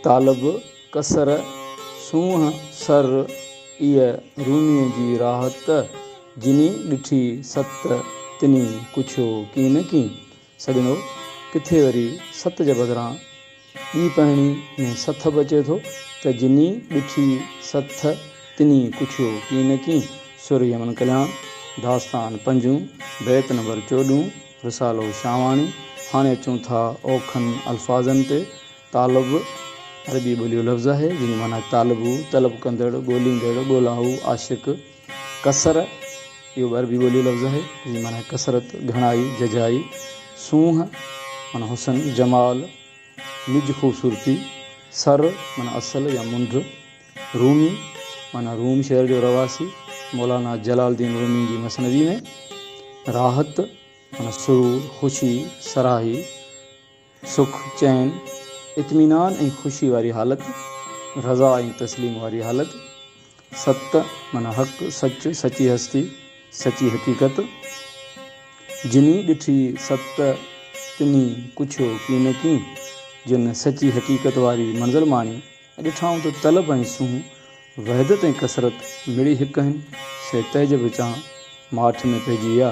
طالب قصر سونهن سر اي روميء جي راحت جني ڏٺي ست تني ڪڇيو ڪين نه ڪين سڄڻو ڪٿي وري ست جي بدران ٻي پهڻي ۾ سٿ به اچي ٿو ته جني ڏٺي ست تني ڪڇيو ڪين نه ڪين سر يمن ڪلياڻ داستان پنجون بيت نمبر چوڏهون. رسالو شاهواڻي، هاڻي اچون ٿا اوکن الفاظن تي. طالب، عربي ٻوليء جو لفظ آهي، جنهن جي معنيٰ طالبو، طلب ڪندڙ، ڳوليندڙ، ڳولائو، عاشق. ڪثر، اهو به عربي ٻوليء جو لفظ آهي، جنهن جي معنيٰ ڪثرت، گهڻائي، ججهائي. سونهن، معنيٰ حسن، جمال، نج خوبصورتي. سر، معنيٰ اصل يا منڍ. رومي، معنيٰ روم شهر جو رهواسي، مولانا جلال الدين رومي جي مثنوي ۾ راحت، معنيٰ سرور، خوشي، سرهائي، سک، چين، اطمينان ۽ خوشي واري حالت، رضا ۽ تسليم واري حالت، ست، معنيٰ حق، سچ، سچي هستي، سچي حقيقت، جني ڏٺي ست، تني پڇيو ڪين ڪين، جن سچي حقيقت واري منزل ماڻي، ڏٺائون ته طلب ۽ سونهن، وحدت ۽ ڪثرت مڙئي هڪ آهن، سي تعجب وچان ماٺ ۾ پئجي ويا.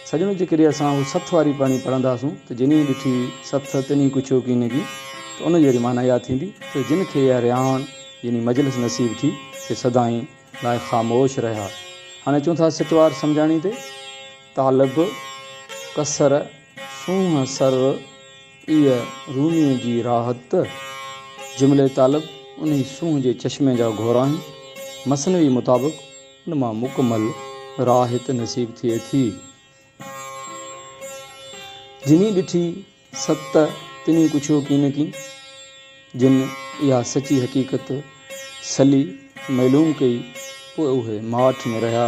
سڄڻو جيڪڏهن اسان اهو سٿ واري پڙهڻي پڙهنداسون ته جنهين ڏٺي سٿ تنهين ڪڇيو ڪين ڪي ته ان جي واري معنيٰ اها ٿيندي ته جن کي اها رهاڻ يعني مجلس نصيب ٿي سي سدائين لاء خاموش رهيا. هاڻي اچون ٿا سٽ وار سمجهاڻي تي. طالب، ڪثر، سونهن، سر، ايء روميء جي راحت ته جملي طالب انهي سونهن جي چشمي جا گهور آهن. مثنوي مطابق ان مان مڪمل راحت نصيب ٿئي ٿي. جنهين ڏٺي ست تنهين ڪڇيو ڪين ڪين. جن اها سچي حقيقت سلي معلوم ڪئي پوء اهي ماٺ ۾ رهيا.